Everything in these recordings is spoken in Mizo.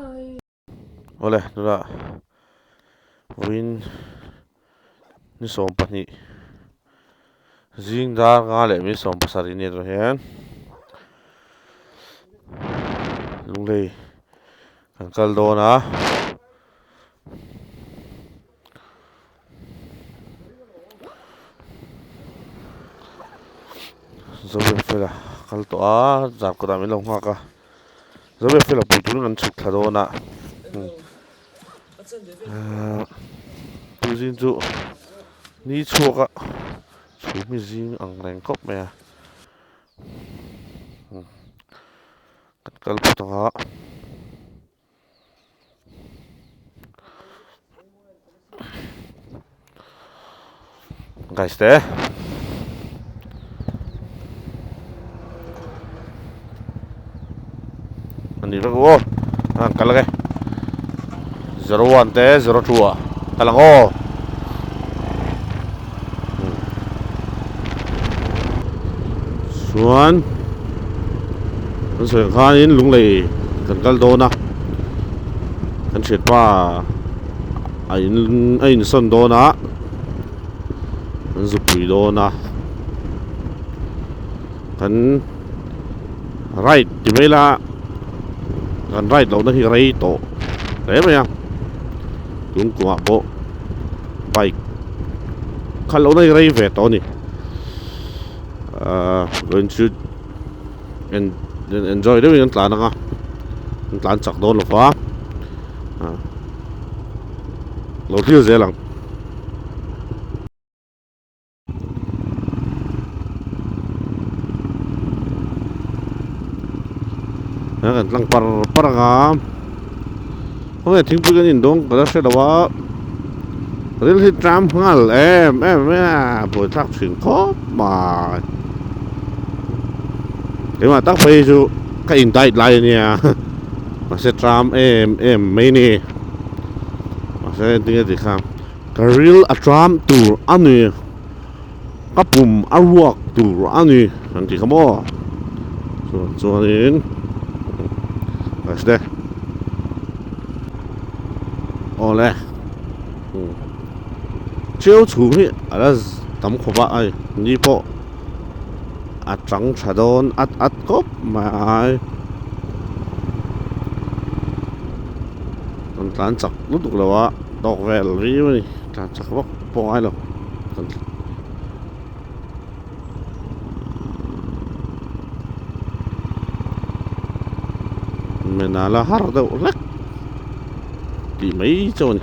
Awle tuna vawiin ni sawm pahnih zing dar nga leh min sawm pasarih nen rawh hian lunglei kan kal dawn a. Zawiak fel a kal tawh a zan kawtah min lo nghak a Zawiak fel a pui turin kan chhuk thla dawn a ah tu zing chu ni chhuak a thu hmi zing ang reng khawp mai a kan kal phawt ang a. Guys te Ani vek wo Ang kal ge 01 te 02 a Kalang o chuan kan sawi khanin lunglei kan kal dawn a kan hriatpa a in a insawn dawn a kan zupui dawn a kan right ti mai la kan right lohna hi rei tawh hle mai a tun kungah pawh bike kha lo rei rei ve tawh a ni ahh rawn chu en enjoy deuhin an tlan ang a an tlan chak dawn lo fa ah lo thil zel ang. a rawn tlang par par ang a hawngei thingpui kan indawng ka la hre lo a ril hi tram nghal em em mai a buai thlak thin khawp mai ema tak phei chu ka in dai lai ania mase tram em em mai ni mase ding a ti kha Ka ril a ṭam tur a ni, ka pum a ruak tur a ni kan ti kha maw? Chuan chuanin Reste awle cheu chhung hi a la tam khawp a ai ni pawh a ṭang ṭha dawn at at khawp mai ai an tlan chak lutuk lo a. Tawk vel riau a ni, tlan chak vak pawh ngai lo kan tih. Menala har deuh hlek tih mai chauh a ni.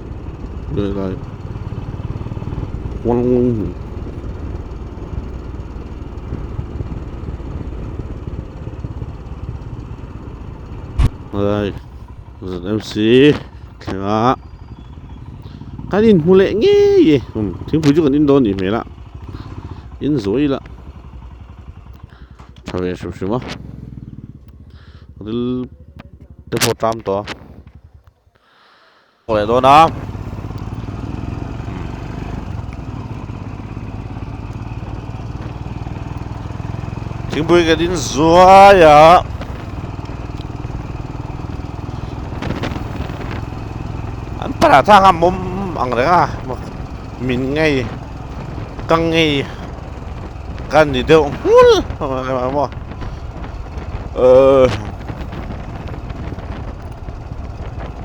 lehlai huang huang hi alai zmc thlenga kan in hmu leh ngei e um thingpui chu kan in dawn nih hmel a in zuai la tha ve hrim hrim a ril te pawh a tam tawh a Hmuh leh dawn a. Thingpui ka din zuai a. An para thang a mawm ang reng a. Min ngei. Ka ngei. Ka ni deuh nghul. Ờ.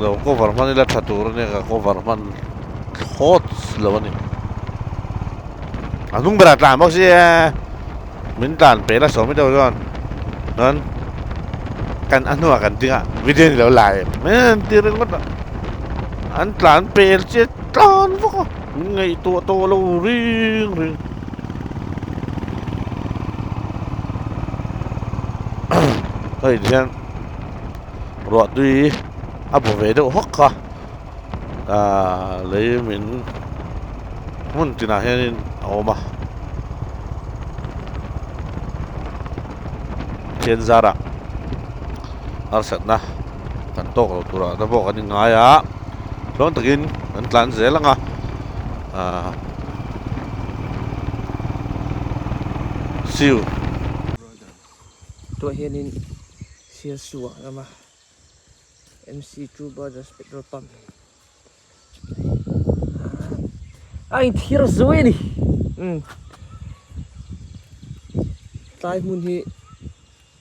lo cover hman ila tha tur ania ka cover hman thawt lo ani a hnung berah tlan bawk si e min tlan pela sawmi deuh chuan chuan kan a hnungah kan dingah video ni lo la em e an tih ringawt a an tlan pel chian tlan bawk a min ngeih tawh tawh lo ring ring ka in hian ruah tui a bu ve deuh hawk a a lei min hmun tinah hianin a awm a thian zara harsatna kan tawk lo turah te pawh kan in ngai a Tlâwn takin an tlân zêl ang a, aah siu. Tuah hianin Siasu ah rama MC True Brothers petrol pump a inthir zui a ni, umm tlai hmun hi.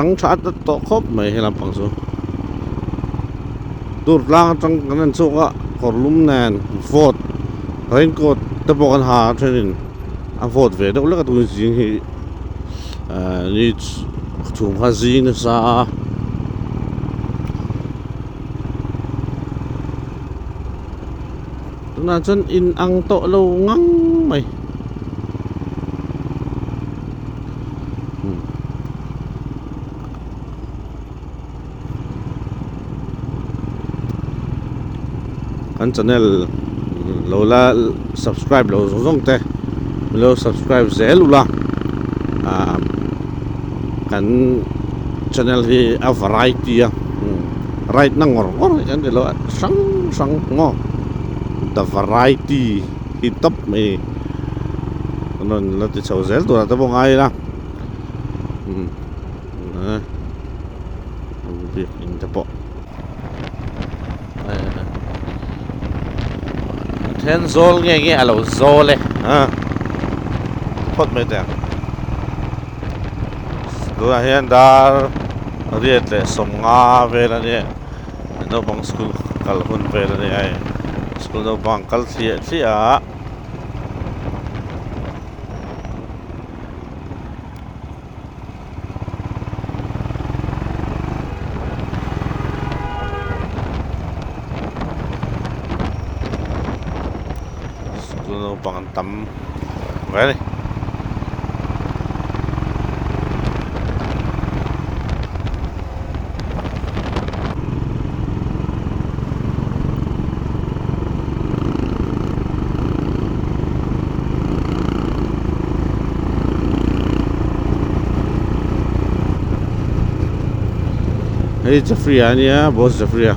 tang tha ta tawh khawp mai he lampang chu tur tlang atang kan en chhuak a kawrlum nen vote raincoat te pawh kan ha a thenin a vote ve deuh lek a turin zing hi-- ahh ni chhung kha zing nasa a. Tunah chuan in ang tawh lo ngang mai. kan channel lo la subscribe lo zawng zawng te mi lo subscribe zel ula ah kan channel hi a variety a right na ngawr ngawr hi an ni lo a hrang hrang maw the variety hi top mai kan rawn la ti chho zel tur ah te pawh ngai ila um then zawl nge nge a lo zawl e a phawt mai teh ang tunah hian dar riat leh sawmnga vel a nia naupang school kal hun vel a ni a school naupang kal thliah thliah a school naupang an tam hle a ni. Hei Jafri ah a nia boss Jafri a.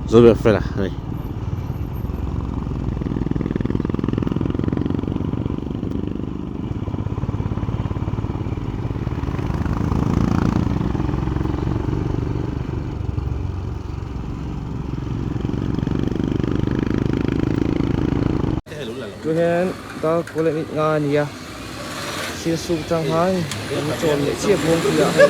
Zo ber fel a hei. Chu hian dark chocolate mit nga a ni a sir suk chang han an chawn leh chiap bawk hi a hei.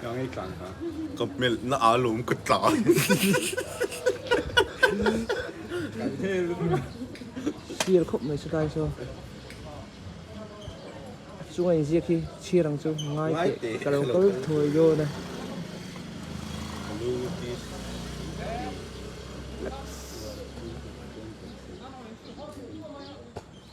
Ka ngei tlang ta. Ka hmelh na a lawm ka tla. Kan hel. Sir khawp mai chu lai saw. Chunga in ziak hi chhir ang chu ngai teh ka lo kal thawi dawn a.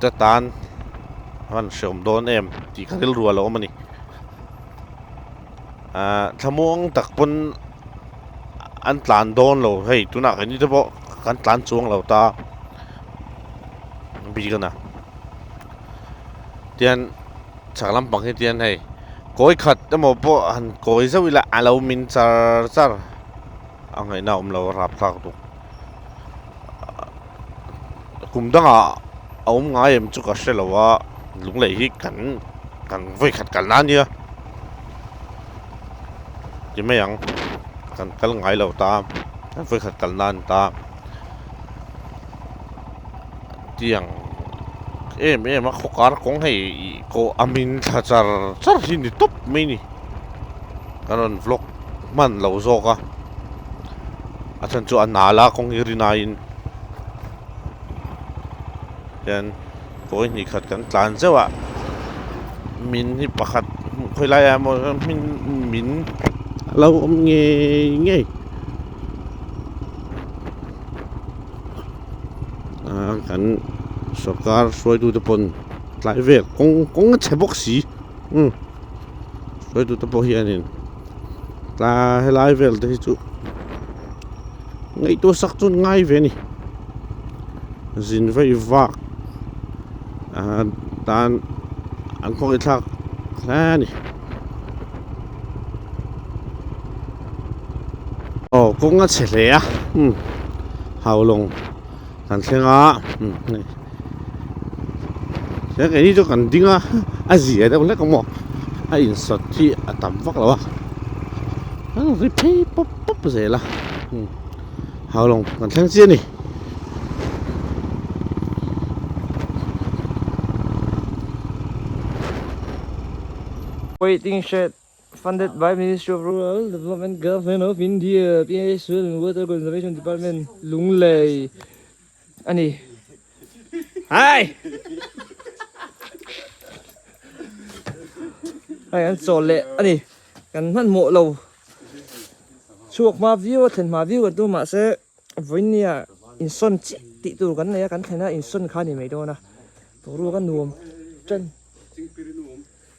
Ka tan han hreawm dawn em tih ka rilru alo awm a ni. Ah, thlamuang tak pawn an tlan dawn lo hei, tunah kan ni te pawh kan tlan chuang lo ta. Bi ka na. Tian chak lampang hi tian hei. Kawi khat emaw pawh han kawi zauh ila alo min char char. A ngaihna awm lo rap thlak tu. kum danga a awm ngai em chu ka hre lo a lunglei hi kan kan vawi khat kal nan nia ti mai ang kan kal ngai lo ta kan vawi khat kal nan ta tiang em em a khawkar kawng hei ko amin thla char char hi ni tawp mai ni kan rawn vlog hman lo zawk a a then chu a nal a kawng hi rin aiin hian kawi hnih khat kan tlan zeuh a min hi pakhat hmuh khawi lai a maw hming min a lo awm ngei ngei a kan sawrkar hruaitu te pawn tlai vek kawng kawng a che bawk si um sawitu te pawh hian in tlaa helai vel te hi chu ngaihtuah sak chuan ngai ve ni zin vai vak ah, tan an khawk i thlak hle ni oh kawng a che hle a hmm haulawng kan thleng a eng eng hi chu kan ding a a zia deuh hlek a maw a insawt hi a tam vak lo a a ri phei pawp pawp zel a hau lawng kan thleng chian ni. Waiting shed Funded by Ministry of Rural Development Government of India PSL Water Conservation Department Lunglei a ni. Hai! Hai an chawl leh a ni. Kan hman mawh lo. Chhuak hma viau a thlen hma viau kan tu mahse vawinia insawn chiah tih tur kan nei a, kan thlen a insawn kha a ni mai dawn a. Boruak a nuam ṭan.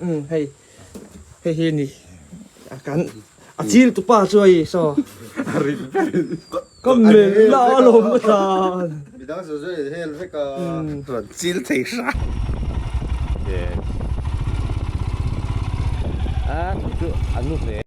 Umm hei hei hi ni a kan a chil tu pa chu a i saw a rin ka melh la a lawm a tlan midang zui zui a hel vek a rawn chil thei hra a.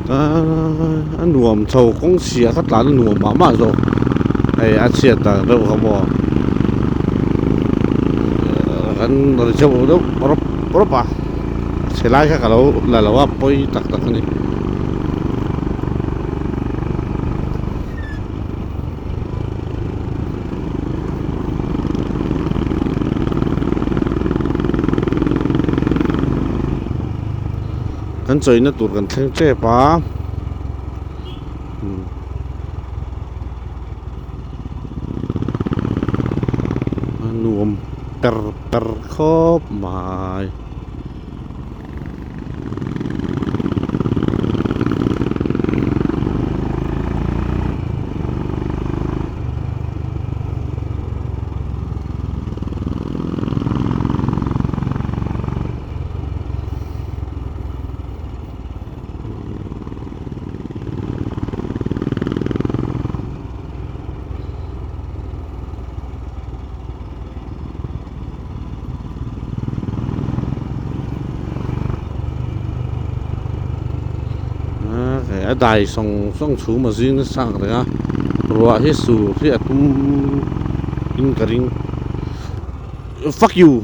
Aaa a nuam tho kawng si a ka tlan a nuam mah mah zawk hei a chhiat dan reuh ka hmu a kan ri chauh reuh reuh rawp rawp a chhelai kha ka lo la lo a pawi tak tak a ni Kan chawihna tur kan thleng tep a. A nuam per per khawp mai. dai sawng sawng chhum a zing nasa ang reng a ruah hi sur hi a tum in ka ring fuck you.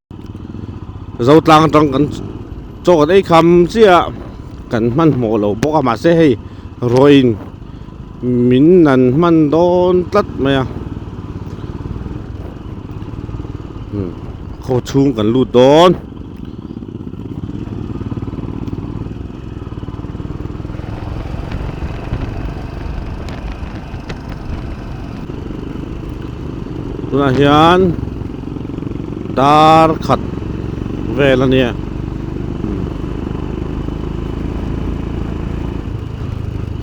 Zotlang atang kan chawk at eikham chiah a kan hman hmawh lo bawk a mahse hei ruahin min han hman dawn tlat mai a khaw chhung kan lut dawn. tunah hian dar khat vel a nia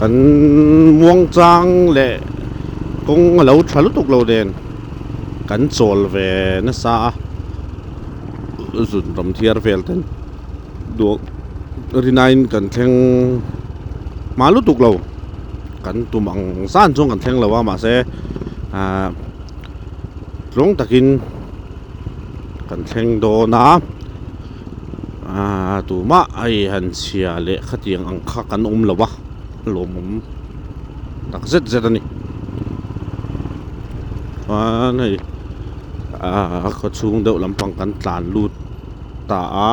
kan muangchang leh kawng a lo tha lutuk lo nen kan chawl ve nasa a zun tam thiar vel ten duak rinain kan thleng hma lutuk lo. Kan tum ang zan chuan kan thleng lo a mahse ah tlawng takin kan thleng dawn a ah tumah a i han chhia leh khatiang ang kha kan awm lo a lawmawm tak zet zet a ni chuan hei ah khawchhung deuh lampang kan tlan lut ta a.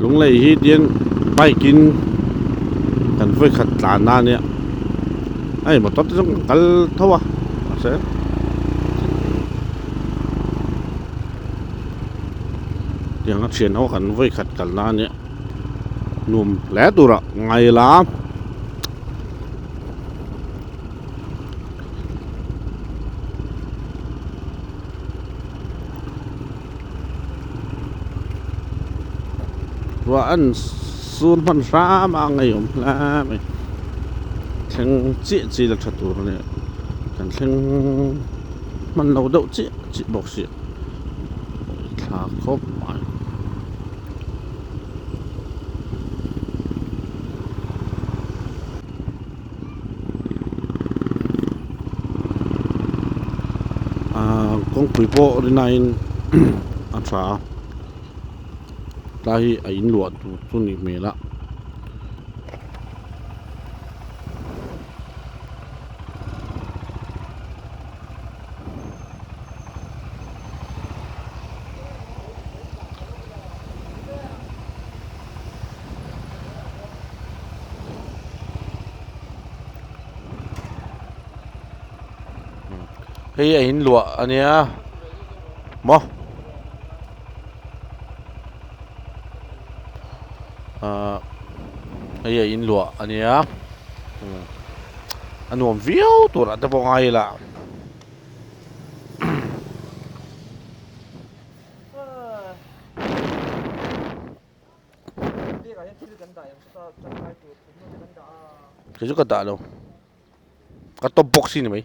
Lunglei hi tian bike in kan vawi khat tlan na nia ai motor te chu kan kal tho a mahse tianga thian ho kan vawi khat kal na nia nuam hle tura ngai la ruah an sur hman hram a a ngaihawm hle mai thleng chiah chiah ila tha tur nen kan thleng hman lo deuh chiah chiah bawk si thla khawp mai. ahh kawngpui pawh ri naiin a tha a tlai hi a in luah tur chu nih hmel a hei a in luah a nia maw ah hei a in luah a nia hmm. a nuam viau turah te pawh ngai ila Kei chu ka dah lo ka top box hi ni mai.